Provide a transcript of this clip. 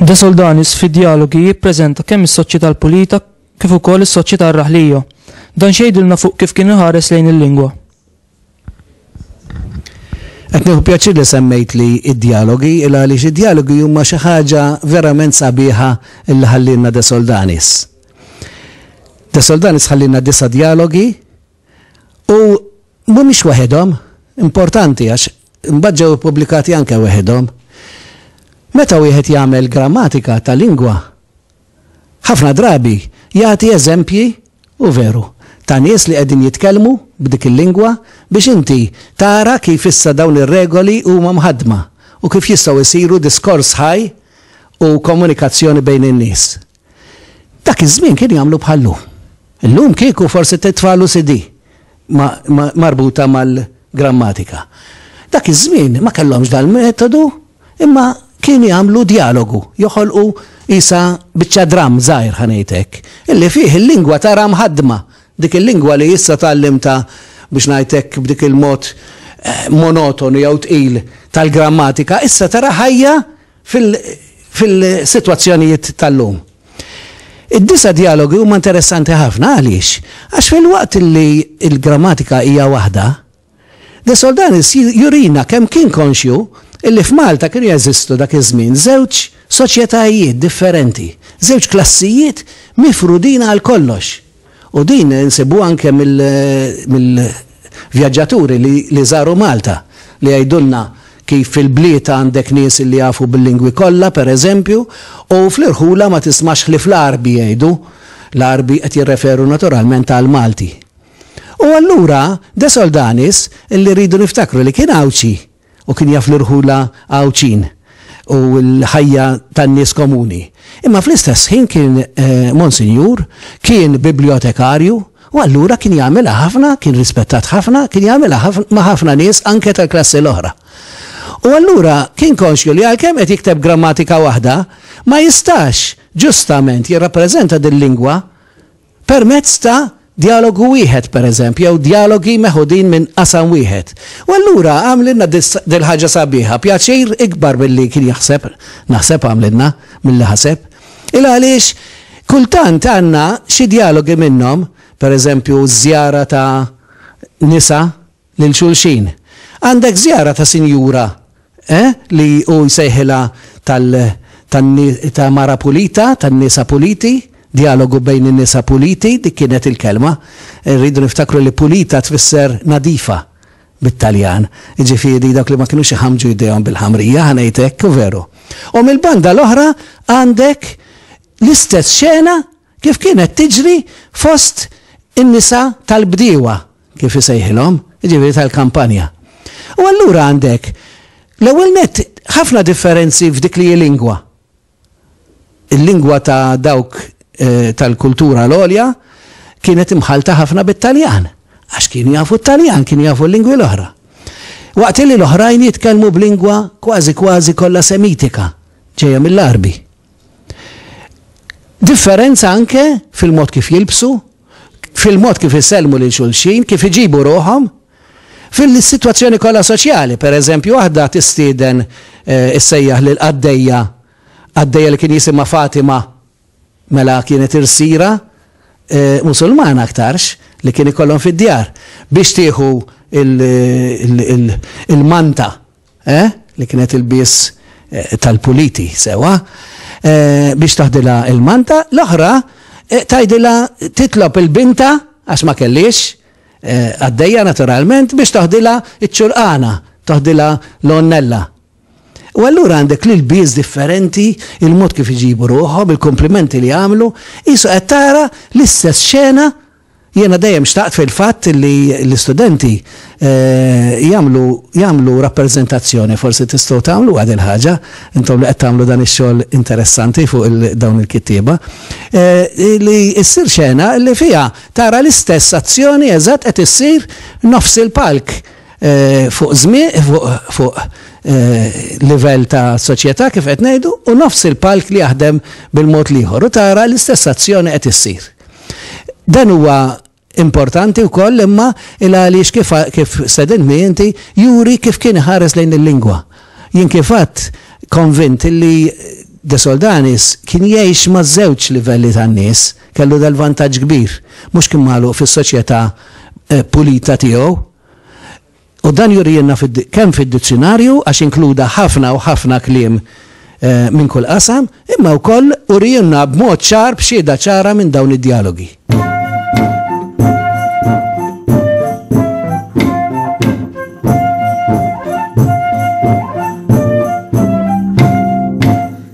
De Soldanis fi dialogi jippreżenta kemm is-soċjetà l-pulita kif ukoll is-soċjetà r-raħlija. Dan xejdilna fuq kif kien iħares lejn il-lingwa. Qed nieħu pjaċir li semmejt li d-djalogi, il għaliex id-djalogi huma xi ħaġa verament sabiħa li ħallielna De Soldanis. De Soldanis ħallielna disa' djalogi u mhumiex waħedhom, importanti għax imbagħad ġew ippubblikati anke waħedhom. Meta wieħed jagħmel grammatika ta' lingwa, ħafna drabi jagħti eżempji, u veru, ta' nies li qegħdin jitkellmu b'dik il-lingwa biex inti tara kif issa dawn ir-regoli huma mħaddma u kif jistgħu jsiru diskors ħaj u komunikazzjoni bejn in-nies. Dak iż-żmien kienu jagħmlu bħal-lum. Illum kieku forsi titfagħlu CD. marbuta mal-grammatika. Dak iż-żmien ma kellhomx dal-metodu imma kienu jagħmlu djalogu, joħolqu qisha biċċa dramm żgħir ħa ngħid hekk, illi fih il-lingwa tara mħaddma, dik il-lingwa li issa tgħallimtha biex ngħid hekk b'dik il-mod monotonu jew tqil tal-grammatika issa tara ħajja fil-sitwazzjonijiet tal-lum. Id-disa' djalogi huma interessanti ħafna għaliex? Għax filwaqt li l-grammatika hija waħda, De Soldanis jurina kemm kien konxju li f'Malta kienu jeżistu dak iż-żmien żewġ soċjetajiet differenti, żewġ klassijiet mifrudin għal kollox. U din insibuha anke mill-vjaġġaturi li żaru Malta, li jgħidulna kif fil-bliet għandek nies li jafu bil-lingwi kollha, pereżempju, u fl-irħula ma tismax ħlief l-Għarbi jgħidu, l-Għarbi qed jirreferu naturalment għall-Malti. U allura De Soldanis, li rridu niftakru li kien Għawdxi, u kien jaf l-irħula Għawdxin u l-ħajja tan-nies komuni. Imma fl-istess ħin kien Monsinjur, kien Bibljotekarju u allura kien jagħmilha ħafna, kien rispettat ħafna, kien jagħmilha ma' ħafna nies anke tal-klassi l-oħra. U allura kien konxju li għalkemm qed jikteb grammatika waħda, ma jistax ġustament jirrappreżenta dil-lingwa permezz ta' djalogu wieħed, pereżempju, jew djalogi meħudin minn qasam wieħed. U allura għamlilna dil-ħaġa sabiħa, pjaċir ikbar milli kien jaħseb, naħseb għamlilna, milli ħaseb. Il għaliex kultant għandna xi djalogi minnhom, pereżempju ż-żjara ta' nisa lil xulxin. Għandek żjara ta' sinjura, eh, li hu jsejħilha tal, tan, ta' mara pulita, tan-nisa puliti, djalogu bejn in-nisa puliti, dik kienet il-kelma. Irridu niftakru li pulita tfisser nadifa bit-Taljan. Jiġifieri dawk li ma kinux iħammġu jdejhom bil-ħamrija, ħa ngħid hekk, veru. U mill-banda l-oħra għandek l-istess xena, kif kienet tiġri fost in-nisa tal-bdiewa, kif isejħilhom, jiġifieri tal-kampanja. U allura għandek, l-ewwel nett, ħafna differenzi f'dik li hi lingwa. Il-lingwa ta' dawk tal-kultura l-għolja kienet imħallta ħafna bit-Taljan, għax kienu jafu t-Taljan, kienu jafu l-lingwi l-oħra. Waqt li l-oħrajn jitkellmu b'lingwa kważi kważi kollha Semitika, ġejja mill-Għarbi. Differenza anke fil-mod kif jilbsu, fil-mod kif isellmu lil xulxin, kif iġibu ruħhom, fil-sitwazzjoni kollha soċjali. Pereżempju, waħda tistieden issejjaħ lil qaddejja, qaddejja li kien jisimha Fatima, mela kienet irsiera Musulmana aktarx li kien ikollhom fid-djar, biex tieħu l-manta. Eh? Li kienet il-bies eh, tal-puliti, sewa? Eh, biex taħdilha il-manta, l-oħra eh, tajdilha titlob il-binta, għax ma kellix, eh, għaddejja naturalment, biex taħdilha iċ-ċurqana, taħdilha l-onnella. U allura għandek li l-biz differenti, il-mod kif iġibu ruħom, il-komplimenti li għamlu, jisu għattara l-istess xena Jiena dejjem xtaqt fil-fatt li l-istudenti jagħmlu jagħmlu rappreżentazzjoni, forsi tistgħu tagħmluha dil-ħaġa, intom li qed tagħmlu dan ix-xogħol interessanti fuq il dawn il-kittieba, li ssir xena li fiha tara l-istess azzjoni eżatt qed issir nofs il-palk fuq żmie fuq fuq livell ta' soċjetà kif qed ngħidu u nofs il-palk li jaħdem bil-mod l-ieħor u tara l-istess azzjoni qed issir. Dan huwa importanti wkoll imma il għaliex kif kif stedintni inti juri kif kien iħares lejn il-lingwa. Jien kif għadd konvint li De Soldanis kien jgħix ma' żewġ livelli tan-nies, kellu dal-vantaġġ kbir, mhux kien magħluq fis-soċjetà eh, pulita tiegħu. U dan jurielna kemm fid-dizzjunarju għax inkluda ħafna u ħafna kliem minn kull qasam, imma wkoll urielna b'mod ċar b'xhieda ċara minn dawn id-djalogi.